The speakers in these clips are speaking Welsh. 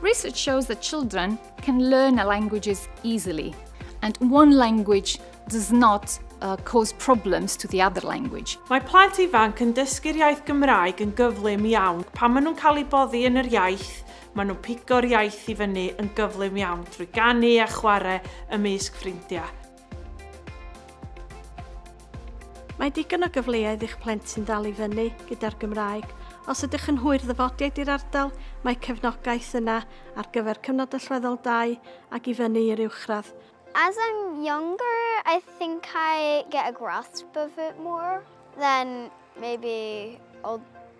Research shows that children can learn languages easily, and one language does not uh, cause problems to the other language. Mae plant ifanc yn dysgu'r iaith Gymraeg yn gyflym iawn. Pan maen nhw'n cael eu boddi yn yr iaith, maen nhw'n pigo'r iaith i fyny yn gyflym iawn drwy ganu a chwarae ymysg ffrindiau. Mae digon o gyfleoedd i'ch plentyn ddal i fyny gyda'r Gymraeg. Os ydych yn hwyr ddyfodiaid i'r ardal, mae cefnogaeth yna ar gyfer cyfnod allweddol 2 ac i fyny i'r uwchradd. As I'm younger, I think I get a grasp of it more. Then maybe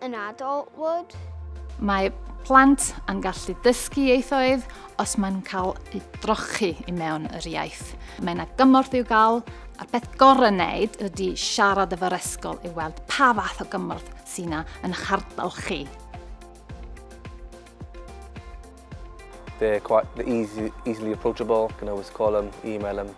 an adult would. Mae plant yn gallu dysgu ieithoedd os mae'n cael ei drochi i mewn yr iaith. Mae yna gymorth i'w gael, a'r peth gorau wneud ydy siarad efo'r esgol i weld pa fath o gymorth sy'n yna yn eich ardal chi. They're quite they're easy, easily approachable. You can always call them, email them.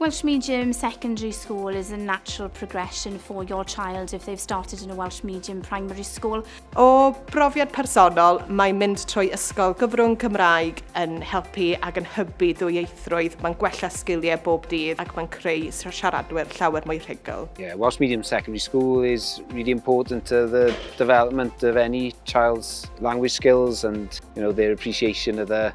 Welsh Medium Secondary School is a natural progression for your child if they've started in a Welsh Medium Primary School. O brofiad personol, mae mynd trwy ysgol gyfrwng Cymraeg yn helpu ac yn hybu dwyieithrwydd, mae'n gwella sgiliau bob dydd ac mae'n creu siaradwyr llawer mwy rhugl. Yeah, Welsh Medium Secondary School is really important to the development of any child's language skills and you know, their appreciation of the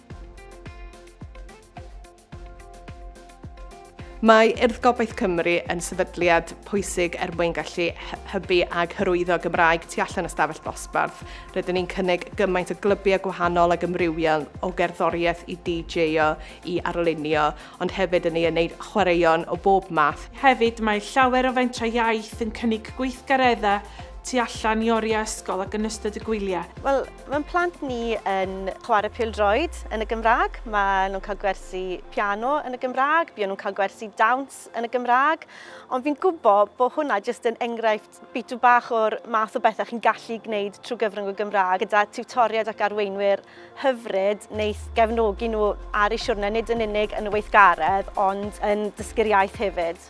Mae Urdd Gobaith Cymru yn sefydliad pwysig er mwyn gallu hybu ag hyrwyddo Gymraeg tu allan y stafell ddosbarth. Rydyn ni'n cynnig gymaint o glybiau gwahanol ag ymrywiol o gerddoriaeth i DJ-o i arlunio, ond hefyd yn ei wneud chwaraeon o bob math. Hefyd, mae llawer o fentrau iaith yn cynnig gweithgareddau tu allan i oriau ysgol ac yn ystod y gwyliau. Wel, Mae'n plant ni yn chwarae pildroed yn y Gymraeg, maen nhw'n cael gwersi piano yn y Gymraeg, buon nhw'n cael gwersi dawns yn y Gymraeg, ond fi'n gwybod bod hwnna jyst yn enghraifft bitw bach o'r math o bethau chi'n gallu gwneud trwy gyfrwng y Gymraeg gyda tiwtoriaid ac arweinwyr hyfryd wneith gefnogi nhw ar eu siwrne nid yn unig yn y weithgaredd ond yn dysgu'r iaith hefyd.